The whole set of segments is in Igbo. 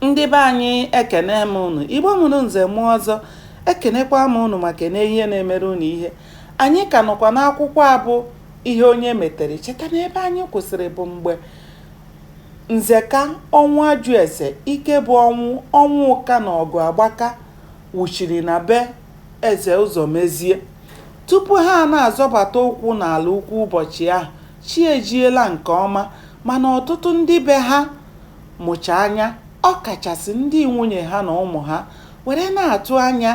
Ndị be anyị ekene m ụnụ, Igbo mụrụ nze mụọ ọzọ, ekenekwa m ụnụ ma kene ihe na-emere ụnụ ihe. Anyị ka nọkwa n'akwụkwọ a bụ Ihe Onye Metere. Cheta na ebe anyị kwụsịrị bụ mgbe Nzeka Ọnwụajụeze, Ikebụ Ọnwụka na Ọgụagbaka wụchiri na be eze Ụzọmezie. Tupu ha na-azọbata ụkwụ n'Alaukwu ụbọchị ahụ, chi ejiela nke ọma mana ọtụtụ ndị be ha mụcha anya, ọ kachasị ndị nwunye ha na ụmụ ha, were na-atụ anya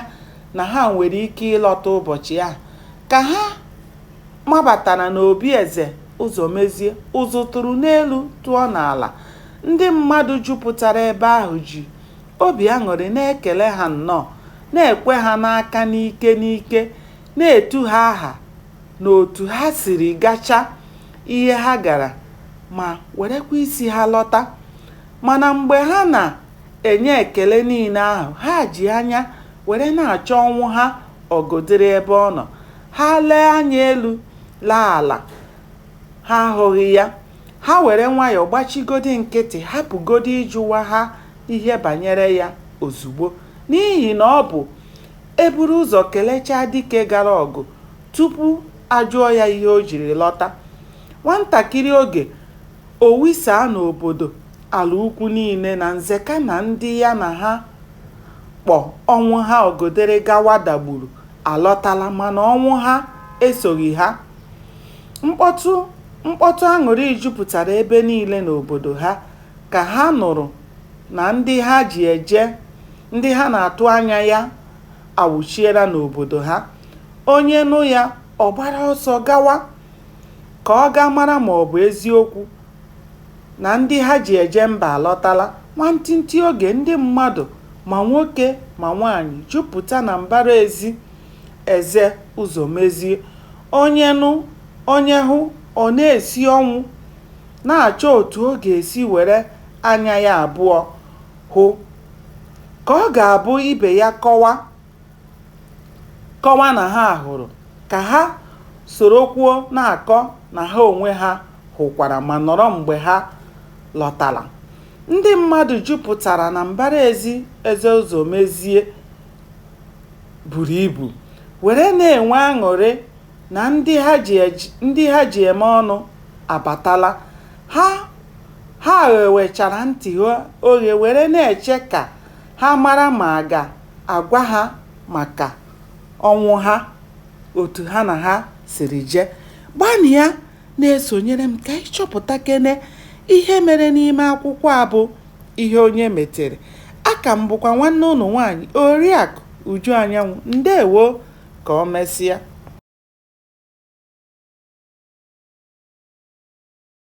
na ha nwere ike ịlọta ụbọchị ahụ. Ka ha mabatara n'obi eze Ụzọmezie, ụzụ tụrụ n'elu tụọ n'ala. Ndị mmadụ jupụtara ebe ahụ ji obi aṅụrị na-ekele ha nnọọ, na-ekwe ha n'aka n'ike n'ike, na-etu ha aha n'otu ha siri gacha ihe ha gara ma werekwa isi ha lọta. Mana mgbe ha na-enye ekele niile ahụ, ha ji anya were na-achọ Ọnwụha Ọgọdịrị ebe ọ nọ. Ha lee anya elu, lee ala, ha ahụghị ya. Ha were nwayọọ gbachigodi nkịtị hapụgodi ịjụwa ha ihe banyere ya ozugbo n'ihi na ọ bụ e buru ụzọ kelechaa dike gara ọgụ tupu a jụọ ya ihe o jiri lọta. Nwantakịrị oge, o wisaa n'obodo Alaukwu niile na Nzeka na ndị ya na ha kpọ Ọnwụha Ọgọdịrị gawa Dagburu alọtala mana Ọnwụha esoghi ha. Mkpọtụ mkpọtụ aṅụrị jupụtara ebe niile n'obodo ha ka ha nụrụ na ndị ha ji eje ndị ha na-atụ anya ya awụchiela n'obodo ha. Onye nụ ya, ọ gbara ọsọ gawa ka ọ gaa mara ma ọ bụ eziokwu na ndị ha ji eje mba alọtala. Nwantịntị oge, ndị mmadụ, ma nwoke ma nwaanyị, jupụta na mbara ezi Eze Ụzọmezie. Onye nụ, onye hụ, ọ na-esi ọnwụ. na-achọ otu ọ ga-esi were anya ya abụọ hụ, ka ọ ga-abụ ibe ya kọwa kọwa na ha hụrụ, ka ha sorokwuo na-akọ na ha onwe ha hụkwara ma nọrọ mgbe ha lọtara. Ndị mmadụ jupụtara na mbara ezi Eze Ụzọmezie buru ibu, were na-enwe aṅụrị na ndị ha ji ej ndị ha ji eme ọnụ abatala. Ha ha ghewechara ntị ha oghe were na-eche ka ha mara ma a ga-agwa ha maka ọnwụ ha otu ha na ha siri je. Gbanịa na-esonyere m ka anyị chọpụtakene ihe mere n'ime akwụkwọ a bụ Ihe Onye Metere. A ka m bụkwa nwanne ụnụ nwaanyị Oriakụ Uju Anyanwụ. Ndewo! Ka o mesịa.